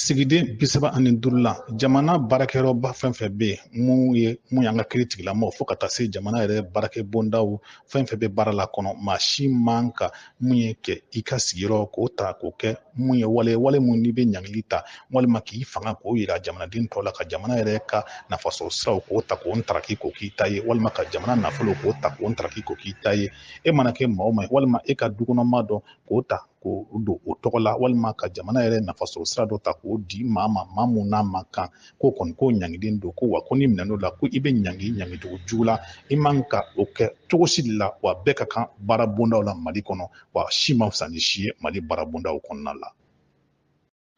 sigiden bi saba ani duuru la jamana baarakɛyɔrɔba fɛn fɛn bɛ yen mun ye mun y'an ka kiri tigilamɔgɔ fo ka taa se jamana yɛrɛ baarakɛ bondaw fɛn fɛn bɛ baara la kɔnɔ maa si man ka mun ye kɛ i ka sigiyɔrɔ k'o ta k'o kɛ mun ye wale wale mun n'i bɛ ɲangili ta walima k'i fanga k'o yira jamanaden tɔw la ka jamana yɛrɛ ka nafasɔrɔ siraw k'o ta k'o ntaraki k'o k'i ta ye walima ka jamana nafolo k'o ta k'o ntaraki k'o k'i ta ye e mana kɛ maa o maa ye walima e ka dukɔnɔmaa dɔ k'o ta k'o don o tɔgɔ la walima ka jamana yɛrɛ nafasɔrɔ sira dɔ ta k'o di maa ma maa mun n'a man kan k'o kɔni k'o ɲangiden don ko wa ko n'i minɛn'o la ko i bɛ ɲangi ɲangicogo jugu la i man ka o kɛ cogo si de la wa bɛɛ ka kan baara bondaw la mali kɔnɔ wa si man fisa ni si ye mali baara bondaw kɔnɔna la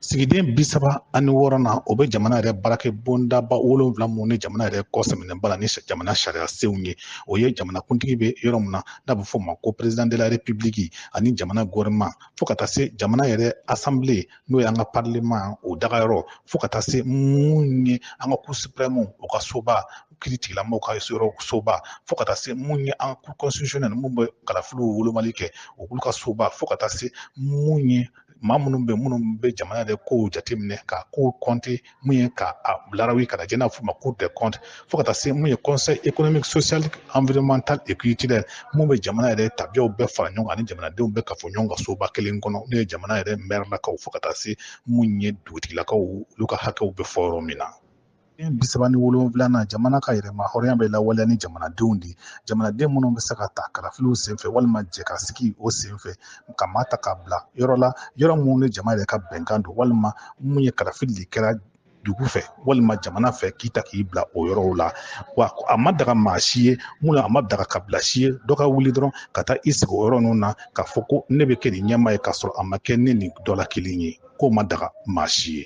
sigiden bi saba ani wɔɔrɔ na o bɛ jamana yɛrɛ baarakɛ bondaba wolonwula mun ni jamana yɛrɛ kɔ sɛmɛnen b'a la ni jamana sariya senw ye o ye jamanakuntigi bɛ yɔrɔ min na n'a bɛ fɔ o ma ko président de la république ani jamana gouvernement fo ka taa se jamana yɛrɛ assemblée n'o ye an ka parlement o dagayɔrɔ fo ka taa se mun ye an ka cour suprême o ka soba kiri tigilamɔgɔw ka yɔrɔ soba fo ka taa se mun ye an ka cour constitutionnelle mun bɛ kalafiliw wolomali kɛ olu ka soba fo ka taa se mun ye maa minnu bɛ minnu bɛ jamana yɛrɛ kow jateminɛ ka kow kɔnte mun ye ka a larabi k'a lajɛ n'a f'u ma cour des comptes fo ka taa se mun ye conseil économique social environnemental et culturel mun bɛ jamana yɛrɛ tabiyaw bɛɛ fara ɲɔgɔn kan ani jamanadenw bɛɛ kafo ɲɔgɔn kan soba kelen kɔnɔ n'o ye jamana yɛrɛ mɛrilakaw fo ka taa se mun ye dugutigilakaw olu ka hakɛw bɛ fɔ yɔrɔ min na den bi saba ni wolonwula na jamana ka yɛrɛmahɔrɔnya bɛ lawaleya ni jamanadenw de jamanaden minnu bɛ se ka ta kalafiliw senfɛ walima jɛkasigi o senfɛ ka maa ta k'a bila yɔrɔ la yɔrɔ minnu ni jama yɛrɛ ka bɛnkan don walima mun ye kalafili de kɛra dugu fɛ walima jamana fɛ k'i ta k'i bila o yɔrɔw la wa a ma daga maa si ye mun na a ma daga kabila si ye dɔ ka wuli dɔrɔn ka taa i sigi o yɔrɔ ninnu na k'a fɔ ko ne bɛ kɛ nin ɲɛmaa ye k'a sɔrɔ a ma kɛ ninnu dɔ la kelen ye k'o ma daga maa si ye